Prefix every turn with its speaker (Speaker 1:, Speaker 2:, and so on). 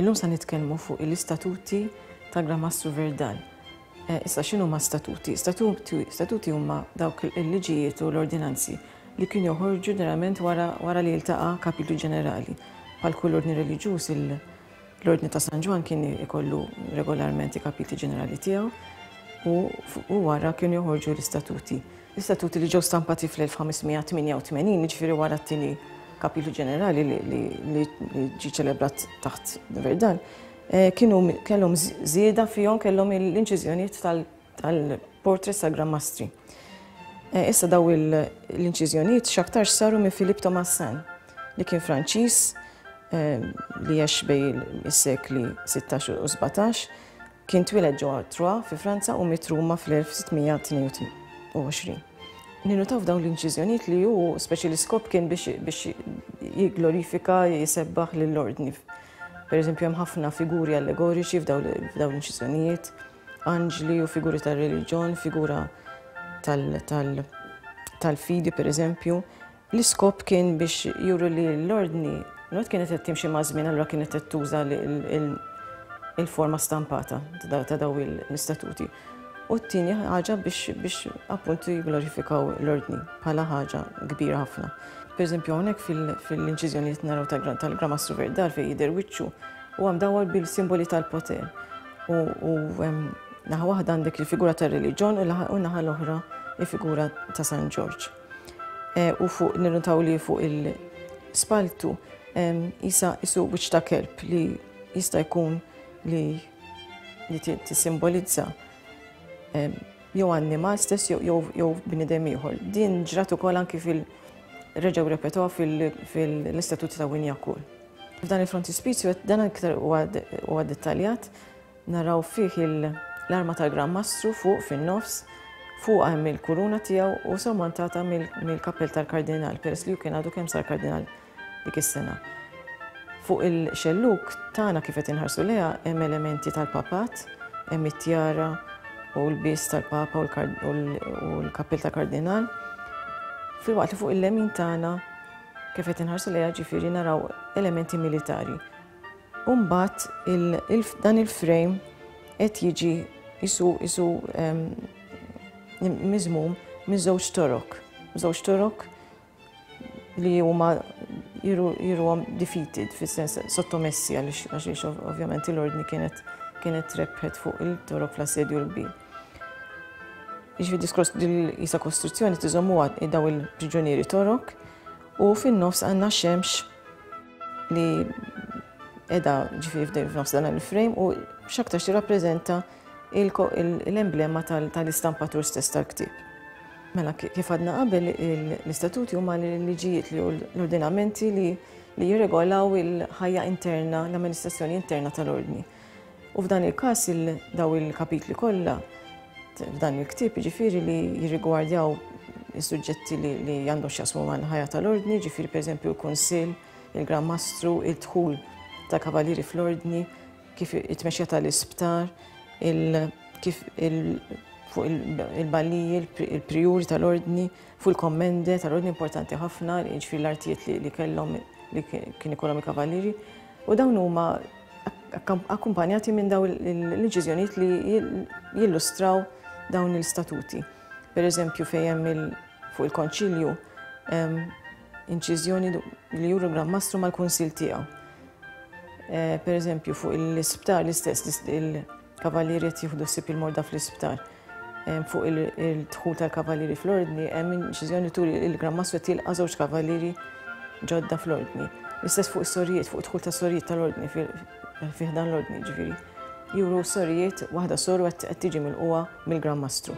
Speaker 1: Illum sa nitkellmu fuq l-istatuti ta' Gran Mastru Verdal. Eh, issa xinu ma' statuti? Statuti huma dawk il-liġijiet u l-ordinanzi li kien joħorġu ġeneralment wara li jiltaqa' kapitlu ġenerali. Pal kull ordni reliġjuż L-Ordni ta' San Ġwann kien ikollu regolarment il-kapitli ġenerali tiegħu u wara kienu joħorġu l-istatuti. L-istatuti li ġew stampati fl-1588, jiġifieri wara t-tieni kapitlu ġenerali li ġie ċelebrat taħt Verdan, eh, kienu kellhom żieda fihom kellhom l-inċiżjonijiet tal- tal-Portrait Sagra Mastri. Eh, issa daw l-inċiżjonijiet x'aktarx saru minn Philippe Thomassin li kien Franċiż eh, li għex bej is-sekli 16 u 17 kien twiled ġewwa Troyes fi Franza u mit Ruma fl-1622. Ninutaw dawn l-inċiżjonijiet li hu speċi l-iskop kien biex jigglorifika jisebbaħ lill-ordni. Per eżempju, hemm ħafna figuri allegoriċi f'dawn l-inċiżjonijiet. anġli u figuri tar-reliġjon, figura tal-fidi pereżempju. L-iskop kien biex juru li l-ordni not kienet qed timxi maż-żmien allura kienet qed tuża il-forma stampata ta' daw l-istatuti. U t-tieni ħaġa biex appunt jigglorifikaw l-ordni bħala ħaġa kbira ħafna. Per eżempju hawnhekk fil-inċiżjonijiet naraw tal-Gramastru Verdal fejn jidher wiċċu u għam dawwal bil-simboli tal-poter. U naħa waħda għandek il-figura ta' reliġjon u naħa l-oħra il-figura ta' San Ġorġ. Eh, u fuq nirruntaw li fuq il-spaltu jisa jisu wiċ ta' kelb li jista' jkun li li tissimbolizza jew annimal stess jew bnidem ieħor. Din ġrat ukoll anki fil-reġgħu repetuha fil-Istatut ta' Winjakul. F'dan il-frontispizju dan iktar huwa dettaljat, naraw fih l-arma tal-Gran Mastru fuq fin-nofs, fuq hemm il-kuruna tiegħu u sormontata mill-kappell tal-Kardinal, peress li hu kien għadu kemm sar Kardinal dik is-sena. Fuq il-xelluk tagħna kif qed inħarsu leha hemm elementi tal-Papat, hemm it-tjara u l-bies tal-Papa u l-kappell tal-Kardinal, filwaqt li fuq il-lemin tagħna Kif qed inħarsu lejha ġifieri naraw elementi militari. U mbagħad dan il-frame qed jiġi isu isu ehm, miżmum minn żewġ torok. Żewġ torok li huma jiruhom defeated fis-sens sottomessi għaliex ovvjament l-ordni kienet kienet rebħet fuq il-torok fl-assedju l-kbir. Jiġifieri diskors jisa kostruzzjoni tiżommuha daw il-priġunieri torok u fin-nofs għandna xemx li edha ġifieri f'nofs dan il-frame u x'aktar tirrappreżenta l-emblema tal-istampatur stess tal-ktieb. Mela kif għadna qabel l-istatuti huma l-liġijiet li l-ordinamenti li jirregolaw il-ħajja interna, l-amministrazzjoni interna tal-ordni. U f'dan il-każ dawn il-kapitli kollha f'dan il-ktieb ġifieri li jirrigwardjaw is-suġġetti li għandhom x'jaqsmu mal-ħajja tal-ordni, ġifieri pereżempju l-kunsill, il-Gran Mastru, id-dħul ta' kavalieri fl-ordni, kif it-tmexxija tal-isptar, kif fuq il-balliji, il-prijuri tal-ordni, fuq il-kommende tal-ordni importanti ħafna, ġifieri l-artijiet li kellhom li kien ikollhom il-kavalieri. U dawn huma akkumpanjati minn dawn il-deċiżjonijiet li jillustraw dawn l-istatuti. Per eżempju, fejjem fuq il-konċilju inċiżjoni li juru l-Gran Mastru mal-kunsil tiegħu. Eh, per eżempju, fuq l-isptar l-istess, il-kavallieri qed jieħdu sib il-morda fl-isptar. Fuq il-dħul tal-kavallieri fl-ordni hemm inċiżjoni turi li l-Gran Mastru qed jilqa' żewġ kavallieri ġodda fl-ordni. L-istess fuq is-sorijiet, fuq id-dħul tas-sorijiet tal-ordni fih dan l-ordni ġifieri. Juru s-sorijiet waħda soru qed tiġi mill-qwa mill-Gran Mastru.